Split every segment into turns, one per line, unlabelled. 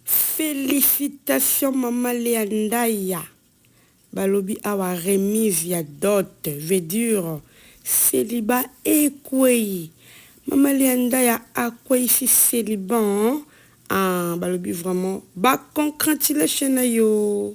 Felicitations maman Lea Ndaya balobi awa remise ya dot veut dire celibat ekweyi maman Lea Ndaya akweyisi celibat hein ah balobi vraiment ba concratulations na yo.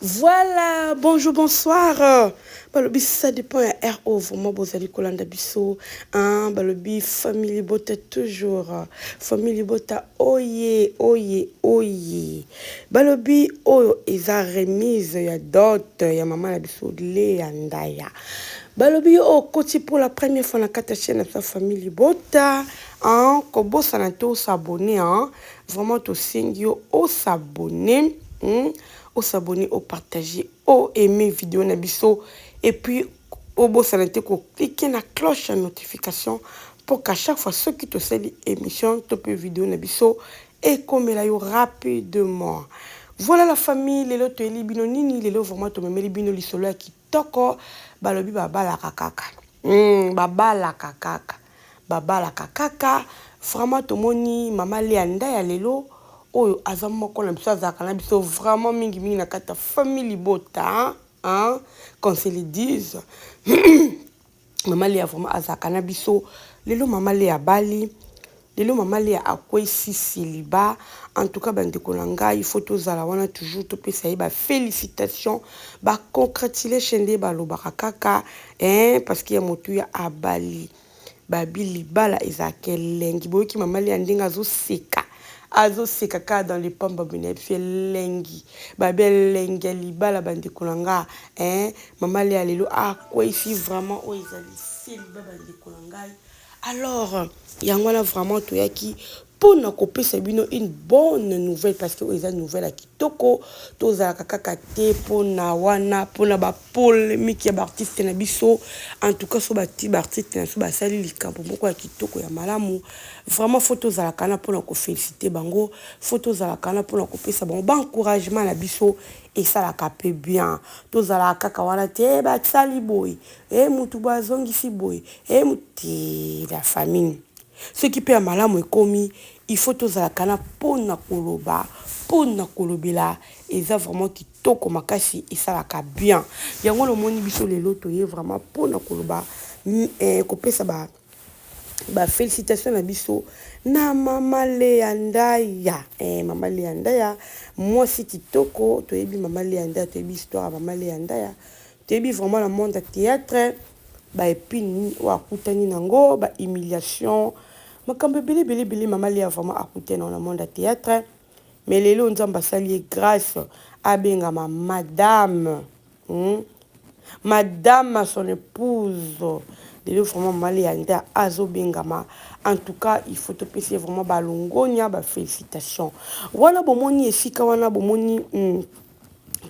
Voilà, bonjour, bonsoir. Balobi ça dépend ya RO vraiment bozali kolanda biso. Hein, balobi famille libota toujours. Famille libota oye oye oye. Balobi oyo eza remise ya dot ya maman na biso Lea Ndaya. Balobi yo okoti pour la première fois na kata chaîne na biso famille libota. Hein, kobosana to s'abonner hein. Vraiment tosengi yo o s'abonner hum o s'abonner o partager o aimer video na biso et puis obosana te ko cliquer na cloche ya notification pour qu'à chaque fois soki tosali emission to pe video na biso ekomela yo rapidement. Voilà la famille lelo toyeli bino nini lelo vraiment tomemeli bino lisolo ya ki Toko balobi babalaka kaka humm babalaka kaka babalaka kaka vraiment tomoni maman Lea nda ya lelo oyo aza moko na biso azalaka na biso vraiment mingi mingi na kati ya famille libota hein qu'on se le dise Mama Lea vraiment azalaka na biso. Lelo Mama Lea abali. Lelo Mama Lea akwesi celibat. En tout cas bandeko na ngai, il faut tozala wana toujours topesa ye ba felicitations, ba congratulations nde balobaka kaka hein, parce que ya motuya abali. Babi libala ezalaka elengi. Boyoki Mama Lea ndenge azoseka. azoseka kaka dans le pamba bina biso elengi babi elengi ya libala bandeko na nga hein Maman Lea lelo ah kweifi vraiment oyo ezali celibat bandeko na ngai alors yango wana vraiment toyaki mpo na kopesa bino une bonne nouvelle parce que oyo eza nouvelle ya kitoko tozalaka kaka te mpo na wana mpo na bapolemike ya baartiste na biso en tout cas so bati baartiste na biso basali likambo moko ya kitoko ya malamu vraiment fo tozalaka na mpo na kofélicite bango fo tozalaka na mpo na kopesa bango baencouragement na biso esalaka pe bien tozalaka kaka wana te eh basali boye eh mutu boye azongisi boye eh te la famille soki pe ya malamu ekomi il faut tozalaka na pona koloba pona kolobela eza vraiment kitoko makasi esalaka bien yango lomoni biso lelo toye vraiment pona koloba eh, kopesa ba Ba felicitations na biso na mama Lea Ndaya eh, mama Lea Ndaya mwasi kitoko toyebi mama Lea Ndaya toyebi histoire ya mama Lea Ndaya toyebi vraiment na monde ya théâtre ba epine oyo akutani nango ba humiliation makambo ebele ebele ebele mama Lea vraiment akutani na monde ya théâtre mais lelo nzambe asali ye grace abengama madame hmm? madame à son épouse lelo vraiment mama leanda azobengama en tout cas il faut topesa ye vraiment balongonia bafélicitation wana bomoni esika wana bomoni mm,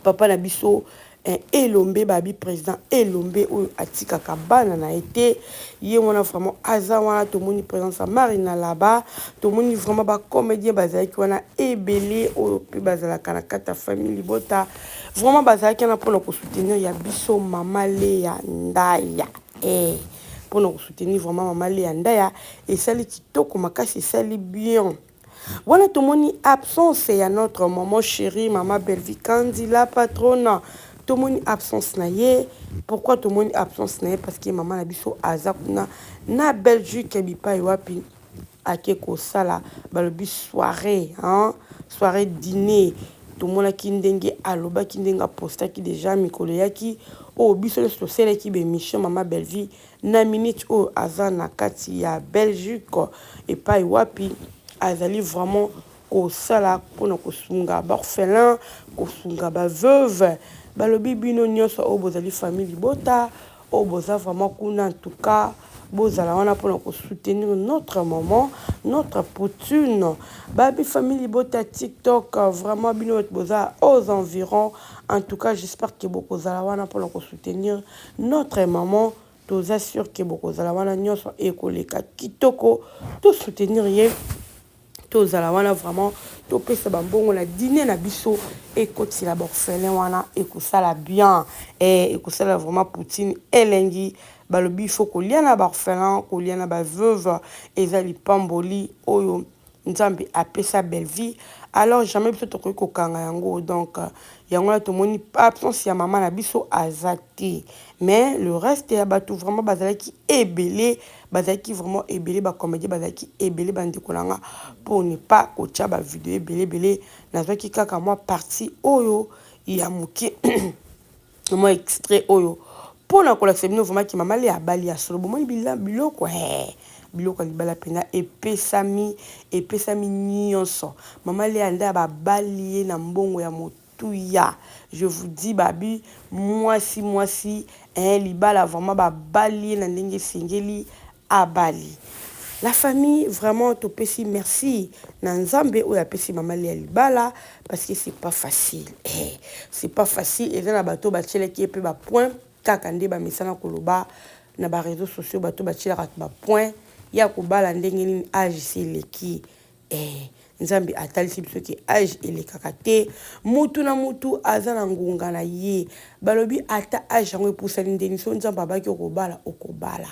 papa na biso eh, elombe babi president elombe oyo atikaka bana na ye te ye wana vraiment aza wana tomoni présence ya mari na laba tomoni vraiment bacomédien bazalaki wana ebele oyo mpe bazalaka na kati ya famille libota vraiment bazalaki wana mpona kosoutenir ya biso mama leya ndaya eh, mpona kosoutenir vraiment mama leya ndaya esali kitoko makasi esali bien Wana tomoni absence ya notre maman cherie maman Bellevue Kandy la patronna tomoni absence na ye pourquoi tomoni absence na ye parce que maman na biso aza kuna na Belgique bipai wapi ake kosala balobi soirée hein soirée dîner tomonaki ndenge alobaki ndenge apostaki deja mikolo eyaki oyo oh, biso nyonso toselaki bemission mama Bellevue Na minute oyo aza na kati ya Belgique epayi wapi azali vraiment kosala pona kosunga b'orphelins, kosunga ba veuves, balobi bino nionso oyo bozali famille libota oyo boza vraiment kuna en tout cas bozala wana pona ko soutenir notre maman, notre poutune, ba famille libota ya tik tok vraiment bino batu boza aux environs en tout cas j'espère que bokozala wana pona ko soutenir Notre maman toza sur que bokozala wana nionso ekoleka kitoko to soutenir ye tozala wana vraiment topesa ba mbongo na dine na biso ekotila ba orphelin wana ekosala bien eh, ekosala vraiment poutine elengi balobi faut kolia na ba orphelin kolia na ba veuve eza lipamboli oyo Nzambe apesa Bellevue alors jamais biso tokoki kokanga yango donc yango wana tomoni absence ya mama na biso aza te mais le reste ya bato vraiment bazalaki ebele bazalaki vraiment ebele bacomédie bazalaki ebele bandeko na nga pour ne pas kotya bavideo ebele ebele nazwaki kaka mwa parti oyo ya moke mwa extrait oyo mpo na kolakisa bino vraimen ke mama le abali ya solo bomoni biloko he biloko ya libala mpenza epesami epesami nyonso mama le anda ya babali ye na mbongo ya motuya je vous dis babi mwasi mwasi eh libala vraimen babali ye na ndenge esengeli abali la famille vraiment topesi merci na nzambe oyo apesi mama lia libala parce que c'est pas facile eh, c'est pas facile eza na bato batielaki ye pe ba point kaka nde bamesana koloba na ba reseaux sociaux bato batielaka ba point ya kobala ndenge nini age seleki Ee, Nzambe atalisi biso ke age elekaka te, mutu na mutu aza na ngonga na ye. Balobi ata age yango epusani ndeni, soki Nzambe abaki yo kobala, okobala.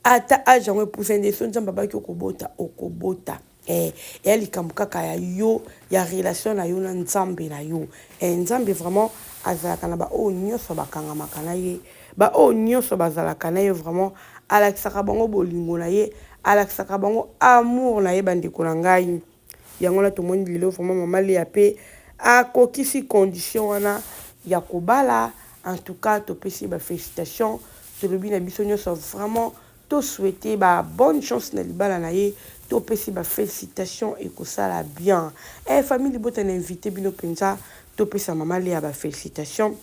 Ata age yango epusani ndeni, soki Nzambe abaki yo kobota, okobota. Ee, eya likambo kaka ya yo, ya relation na yo na Nzambe na yo. Ee, Nzambe vraiment azalaka na baoyo nionso bakangamaka na ye. Ba oyo nionso bazalaka naye vraiment alakisaka bango bolingo naye alakisaka bango amour naye ba ndeko na ngai yango wana tomoni lelo vraiment maman Lea pe akokisi condition wana ya kobala en tout cas topesi ye ba felicitation tolobi na biso nionso vraiment to souhaite ba bonne chance na libala naye topesi ba felicitation ekosala bien eh famille libota na invite bino penza topesa maman Lea ba felicitation.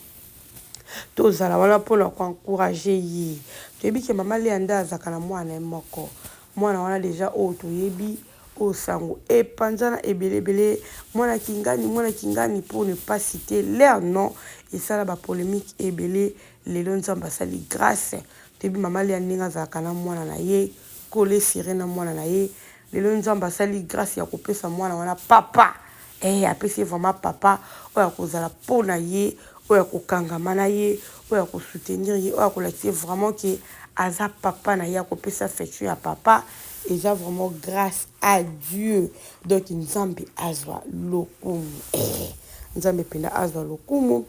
To zala wana pona ko encourager ye. To yebi ke mama Lea nde azalaka na mwana na ye moko. Mwana wana dejà oyo to yebi, oyo sango e panzana ebele ebele, mwana kingani, mwana kingani pour ne pas citer leur nom e sala ba polemiques ebele. Lelo Nzambe a sali grace, to yebi mama Lea ndenge a zalaka na mwana na ye, colle serre na mwana na ye. Lelo Nzambe a sali grace ya ko pesa mwana wana papa. Ehh apesi ye vraiment papa oyo akozala po na ye, oyo akokangama na ye, oyo ako soutenir ye, oyo akolakisa ye vraiment que aza papa na ye, akopesa affection ya papa, eza vraiment grace à Dieu. Donc Nzambe azwa lokumu. Ehh Nzambe penza azwa lokumu.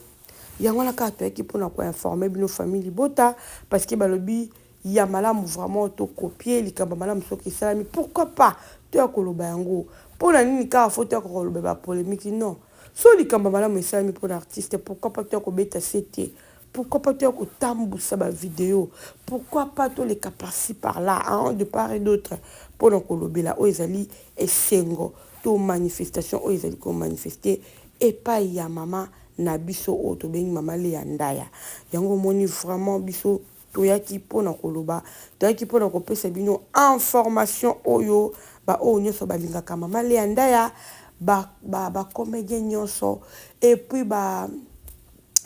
Yango wana kaka toyaki pona ko informer bino famille libota parce que balobi ya malamu vraiment to copier likambo ya malamu soki esalami pourquoi pas to ya koloba yango mpo na nini kaka fo to ya kokoloba ba polemiki non soki likambo ya malamu esalami mpo na artiste pourquoi pas to ya kobeta se te pourquoi pas to ya kotambusa ba video pourquoi pas toleka parci par là en de part et d'autre mpo na kolobela oyo ezali esengo to manifestation oyo ezali komanifeste epai ya mama na biso oyo tobengi mama Lea Ndaya yango omoni vraiment biso Toyaki mpo na koloba, toyaki mpo na kopesa bino information oyo, ba oyo nionso balingaka mama Lea Ndaya, ba ba ba comediens nionso et puis ba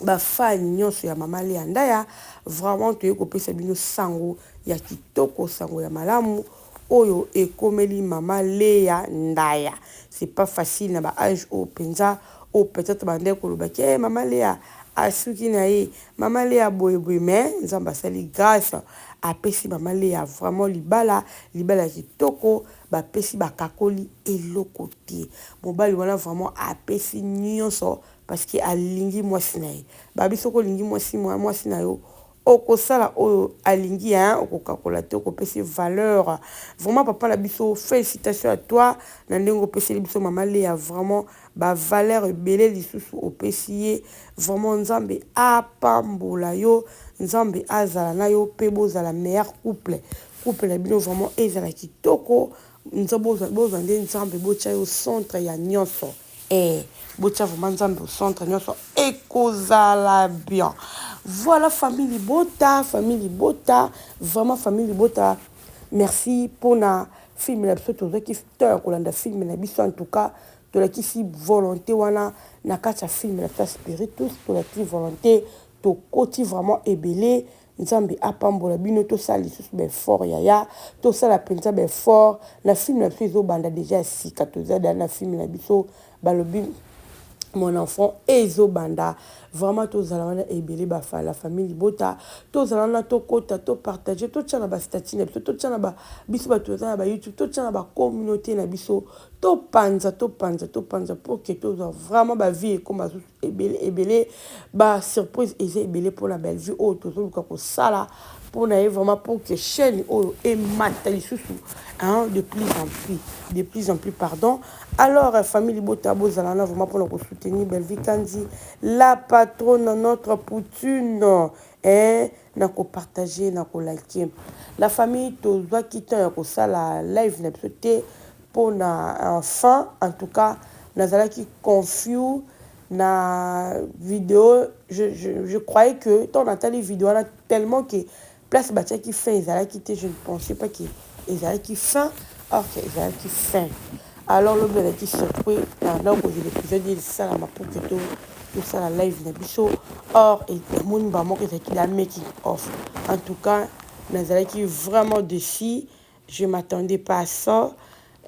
ba fans nionso ya mama Lea Ndaya, vraiment toye kopesa bino sango ya kitoko, sango ya malamu oyo ekomeli mama Lea Ndaya. C'est pas facile na ba age oyo penza, oyo peut-etre ba bandaki koloba ke eh mama Lea asuki na ye, Maman Lea boye boye mais nzambe asali grace apesi maman Lea vraiment libala libala ya kitoko bapesi bakakoli eloko te mobali wana vraiment apesi nionso parce que alingi mwasi na ye babi soki olingi mwasi mwasi na yo okosala oyo alingi hein okokakola te okopesi valeur vraiment papa na biso felicitation à toi na ndenge opeseli biso maman Lea vraiment ba valeur ebele lisusu opesi ye vraiment nzambe apambola yo nzambe azala na yo pe bozala meilleur couple couple na bino vraiment ezala kitoko bozwa nde nzambe botia yo centre ya nionso eh botia vraiment nzambe au centre nionso ekozala bien voilà famille libota famille libota vraiment famille libota merci pona film na biso tozwaki temps ya kolanda film na biso en tout cas Tolakisi volonte wana na kati ya film na biso ya spiritus tolakisi volonte tokoti vraiment ebele nzambe apambola bino tosala lisusu ba effort yaya tosala mpenza ba effort na film na biso ezobanda deja ya sika toza da na film na biso balobi mon enfant ezobanda vraiment tozala wana ebele ba la famille libota tozala wana tokota to partager totya na ba statut na biso totya na ba biso bato toza na ba youtube totya na ba communauté na biso To panza to panza to panza pour que to zwa vraiment ba vie ekoma susu ebele ebele ba surprise eza ebele pona Bellevue oyo tozo luka ko sala pona ye vraiment pour que chaîne oyo emata lisusu hein de plus en plus de plus en plus pardon alors euh, famille libota bozala na vraiment pona ko soutenir Bellevue Kanzi la patronne notre poutine eh na ko partager na ko liker la famille tozwa ki temps ya ko sala live na biso te pona un fan en tout cas nazalaki confus na video je je croyais que tango natali video wana tellement que place batiaki fin ezalaki te je ne pensais pas que ezalaki fin or que ezalaki fin alors lobi nazalaki surpris na na kozela episode ye esalama pour que to tosala live na biso or emoni mbala moko ezalaki la making off en tout cas nazalaki vraiment défi Je m'attendais pas à ça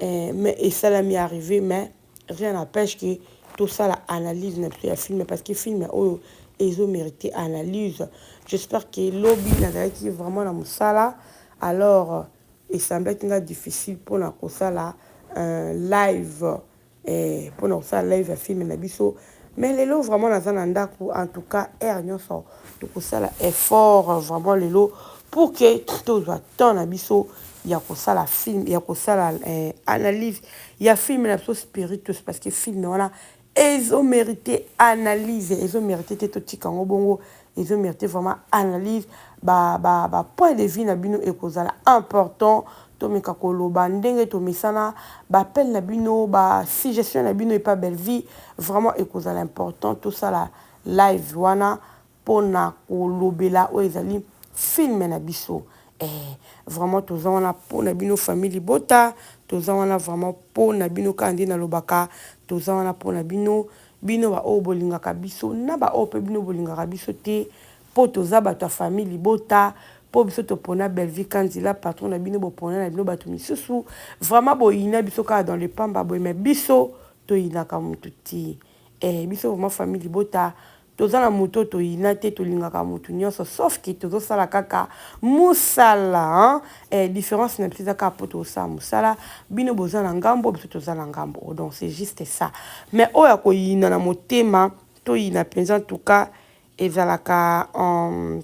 eh, mais esalami arrive mais rien n'empêche que tosala analyse na biso ya film parce que film oyo ezo mérite analyse j'espère que lobi nazalaki vraiment na mosala alors esemblaki nga difficile mpona kosala un live Eeh pona kosala live ya film na biso mais lelo vraiment naza na ndaku en tout cas heure nionso tokosala effort vraiment lelo pour que tozwa temps na biso ya kosala film ya kosala eh, analyse ya film na biso spiritus parce que film wana ezo merite analyse ezo merite te totika yango bongo Ezo merite vraiment analyse, ba ba ba point de vue na bino ekozala important, tomeka koloba ndenge tomesana, ba appel na bino, ba suggestion na bino epa Bellevue vraiment ekozala important tosala live wana pona kolobela oyo ezali film na biso ee vraiment toza wana pona bino famille libota toza wana vraiment pona bino kaka nde nalobaka toza wana pona bino Bino ba oyo bolingaka biso na ba oyo pe bino bolingaka biso te po toza batu ya famille libota po biso topona Bellevue Kanzila patron na bino bopona na bino batu misusu vraiment boyina biso kaka dans le pamba boye mais biso toyinaka mutu te eh biso vraiment famille libota toza na mutu oyo toyina te tolingaka mutu nionso sauf que tozosala kaka musala hein Eh, difference na biso eza kaka mpo tokosala mosala bino boza na ngambo biso toza na ngambo oh, donc c'est juste ça mais oyo akoyina na motema toyina mpenza ntuka ezalaka um,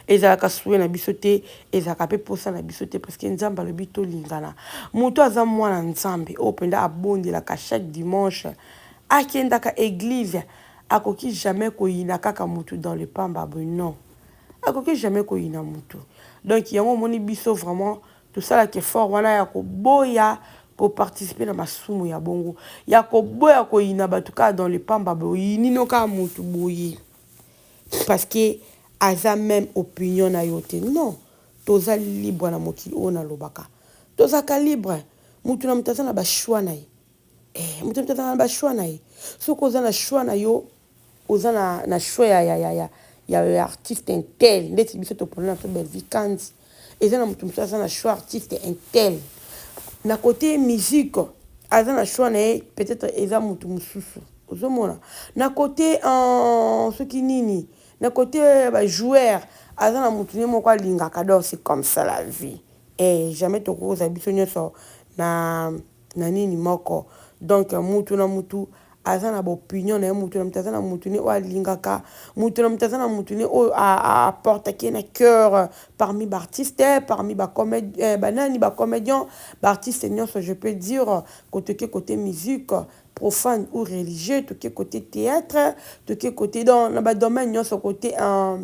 ezalaka suwe na biso te ezalaka mpe mposa na biso te parceke nzambe alobi tolingana moto aza mwana nzambe oyo mpenza abondelaka chaque dimanche akendaka eglize akoki jamais koyina kaka motu dans le pamba boye non Akoki jamais koyina mutu. Donc yango omoni biso vraiment tosalaka effort wana ya koboya ko participer na masumu ya bongo. Ya koboya koyina batu kaka dans le pamba boye oyini no kaka mutu boye parce que aza meme opinion nayo te non toza libre na mokili oyo nalobaka tozalaka libre mutu na mutu aza na ba choix na ye eh mutu na mutu azalaka na ba choix na ye soki oza na choix na yo Oza na na choix ya ya ya ya artiste intel ndeti biso topona na to Bellevue Kandy eza na mutu mususu aza na choix artiste intel na cote musique aza na choix na ye peut-être eza mutu mususu ozomona na cote en soki nini na cote ba joueur aza na mutu ne moko alingaka donc c'est comme ça la vie eh jamais tokoza biso nyonso na na nini moko donc mutu na mutu aza na bopinion na ye mutu na mutu aza na mutu ne oyo alingaka mutu na mutu aza na mutu ne oyo aportaki ye na cœur parmi baartiste parmi eh, banani bacomedian baartiste nyonso je peux dire kotoke kote musique profane ou religieux toke kote théâtre toke kote donc na badomaine nyonso kote uh,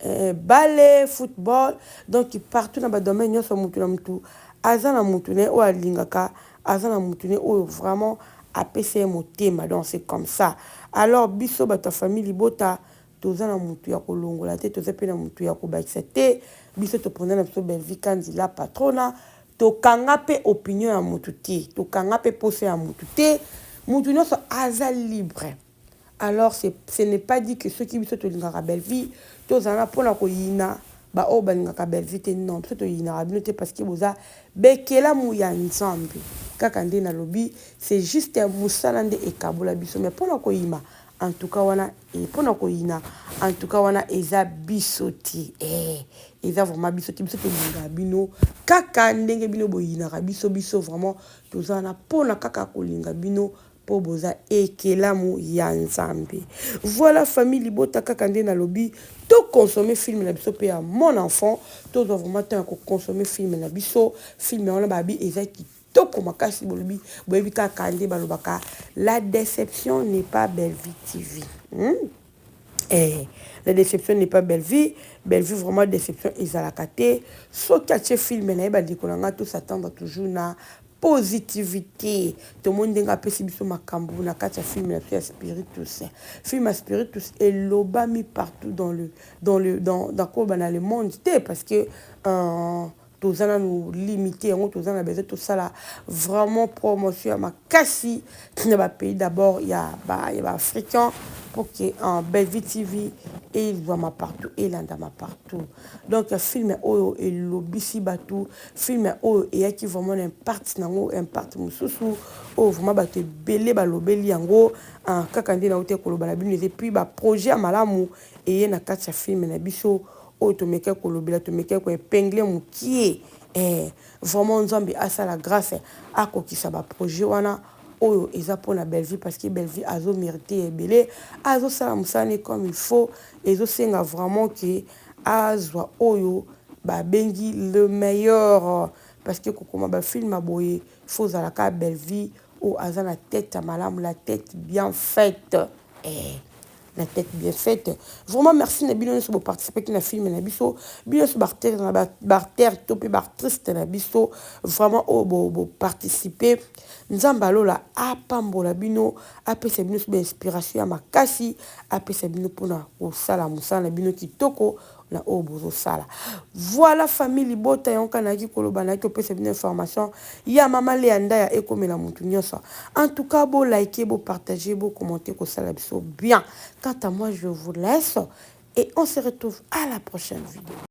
Eeh balle, football donc partout na ba domaine nionso mutu na mutu aza na mutu na ye oyo alingaka aza na mutu na ye oyo vraiment apesa ye motema donc c'est comme ça alors biso batu ya famille libota toza na mutu ya kolongola te toza pe na mutu ya kobakisa te biso toponela biso Bellevue Kandy la patronna tokanga pe opinion ya mutu te tokanga pe posa ya mutu te mutu nionso aza libre Alors c'est ce n'est pas dit que soki biso tolingaka Bellevue tozala na pona koyina ba oyo balingaka Bellevue te non biso toyinaka bino te parce que boza bekelamu ya Nzambe kaka nde nalobi c'est juste musala nde ekabola biso mais pona koyima en tout cas wana et pona koyina en tout cas wana eza biso te eh eza vraiment biso te biso tolingaka bino kaka ndenge bino boyinaka biso biso vraiment tozala na pona kaka kolinga bino po boza ekelamu ya nzambe. Voilà famille libota kaka nde na lobi to consommer film na biso pe ya mon enfant to zwa vraiment temps ya ko consommer film na biso film wana ba bi eza kitoko kitoko makasi bolobi boyebi kaka nde balobaka la deception n'est pas Bellevue TV. Hum. Eh la deception n'est pas Bellevue, Bellevue vraiment deception ezalaka te, soki atie film naye ba ndeko na nga to s'attendre toujours na positivite, tomoni ndenge apesi biso makambu na kati ya film na biso ya spiritus, film ya spiritus elobami partout dans le dans le dans koloba na le monde te parce que euh, toza nanu limite yango toza na besoin tosala vraiment promotion ya makasi na ba pays d'abord ya ba ya ba africains pour que en Bellevue TV ezwama partout elandama partout donc film oyo elobisi bato film oyo eyaki vraiment na impact nango impact mosusu oyo vraiment bato ebele balobeli yango ah, kaka nde nauti koloba na bino eza epuis baprojet ya malamu eye na kati ya film na biso oyo tomekaki kolobela tomekaki ko epingler mukie eh vraiment nzambe asala grace akokisa ba projet wana oyo eza pona Bellevue parce que Bellevue azo merite ya ebele azo sala musala ne comme il faut ezo senga vraiment que azwa oyo ba bengi le meilleur parce que kokoma ba film ya boye faut ozala ka Bellevue oyo aza na tete ya malamu la tete bien faite eh na tete bien faite vraiment merci na bino nioso bo participaki na film na biso bino nioso ba acteurs na ba ba acteurs to pe ba actrices na biso vraiment oyo bo bo participer nzambe alola apambola bino apesa bino nioso ba inspiration ya makasi apesa bino pona kosala mosala na bino kitoko na oyo bozo sala voila famille libota yango kaka nayaki koloba nayaki kopesa bino information ya maman Lea Ndaya ekomela mutu nionso en tout cas bo like bo partager bo commenter kosala biso bien quant à moi je vous laisse et on se retrouve à la prochaine video.